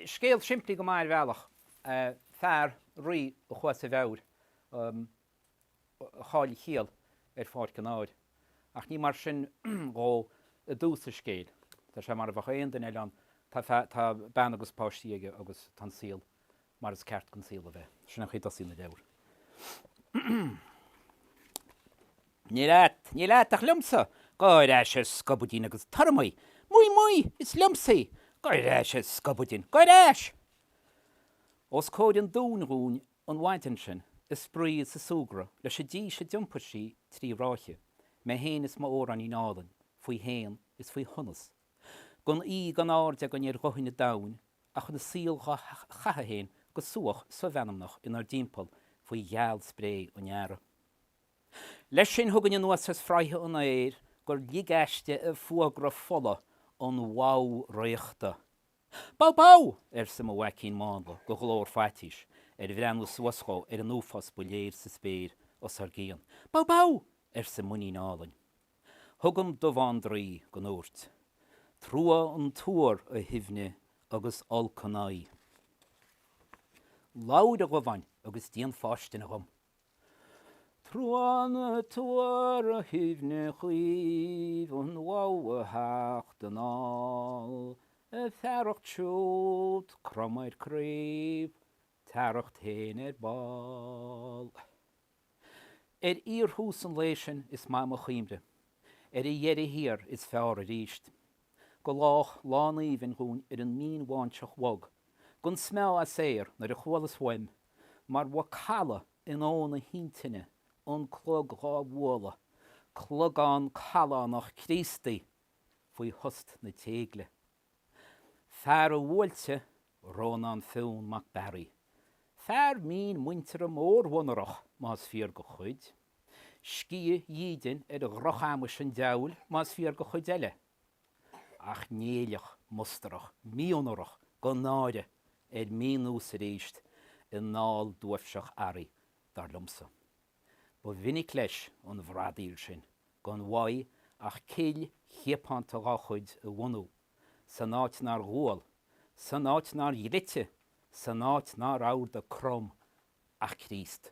Scéal simplí go maith ar bhealach, fear, rí, a chuaigh as a mheabhair, a chaill a chiall ar pháirc an áir. Ach ní mar sin dhó i dtús an scéil, tá sé mar a bheadh aon duine eile ann, tá bean agus páistí aige agus tá an saol mar is ceart don saol a bheith. Sin an chaoi a dtosaíonn an leabhar. Ní leat, ní leat, ach liomsa! Gabh ar ais, a scubaidín, agus tabhair dhom í! Dhom í, dhom í! Is liomsa í! Gabh ar ais, a scubaidín! Gabh ar ais! Os comhair an dúin dhúinn an mhaidin sin, ag spraoi is ag súgradh leis an dís a d'iompair sí trí ráithe, mé fhéin is m'Eorainín álainn, faoi shéan is faoi shonas. gan uídh gan aird againn ar dhuthaine an domhain ach an saol dhá chaitheamh féin go súach somheanmnach inár dtimpeall faoi ghealspré an earraigh. Leis sin chugainn anuas as fraighe an aeir gur lig aisti fuagra fola an bhadhbh fhraochta. Badhbh badhbh! arsa mo mhaicín mánla de ghlór faitís ar bhreathnú suas dhó ar an uafás ba léir sa spéir os ár gcionn. Badhbh badhbh! arsa m'inín álainn. Chugam Dubhán draoi go ndúirt, Trua an tuar, a Shuibhne, agus olc an aghaidh. Labhair a Dhubháin agus déan fáistine dhom. Trua an tuar, a Shuibhne chaoimh, an bhadhbh a theacht anall, a fearacht siúd, crom ar craobh, t'fhearacht féin ar ball. Ar fhíorthús an lae sin is maith mo chuimhne, ar a dheireadh thiar is feárr arís. Go lách lán aoibhinn dhúinn ar an mínbháinseach bhog, gan smeámh as aer, nuair a chualas uaim, mar mhacalla in uamhain na hintinne, an clog dhá bhualadh, clogán callánach Críostaí, faoi thost na téigle. Fear a bhuailte, Rónán Fionn mac Bearaigh. Fear mín muinteartha mórmhonarach, más fíor do chuid. Sciath dhídin ar dhrochamais an diabhail, más fíor do chuid eile. Ach Néilleach mustarach, mí-onórach gan náire, ar mínós arís i nDál duaibhseach Araí, dar liomsa. Ba mhinic leis an bhradaíl sin gan mhaith ach cill chiapánta dá chuid a bhunú, san áit nár dhual, san áit nár dhlite, san áit inarbh airde Crom ná Críost.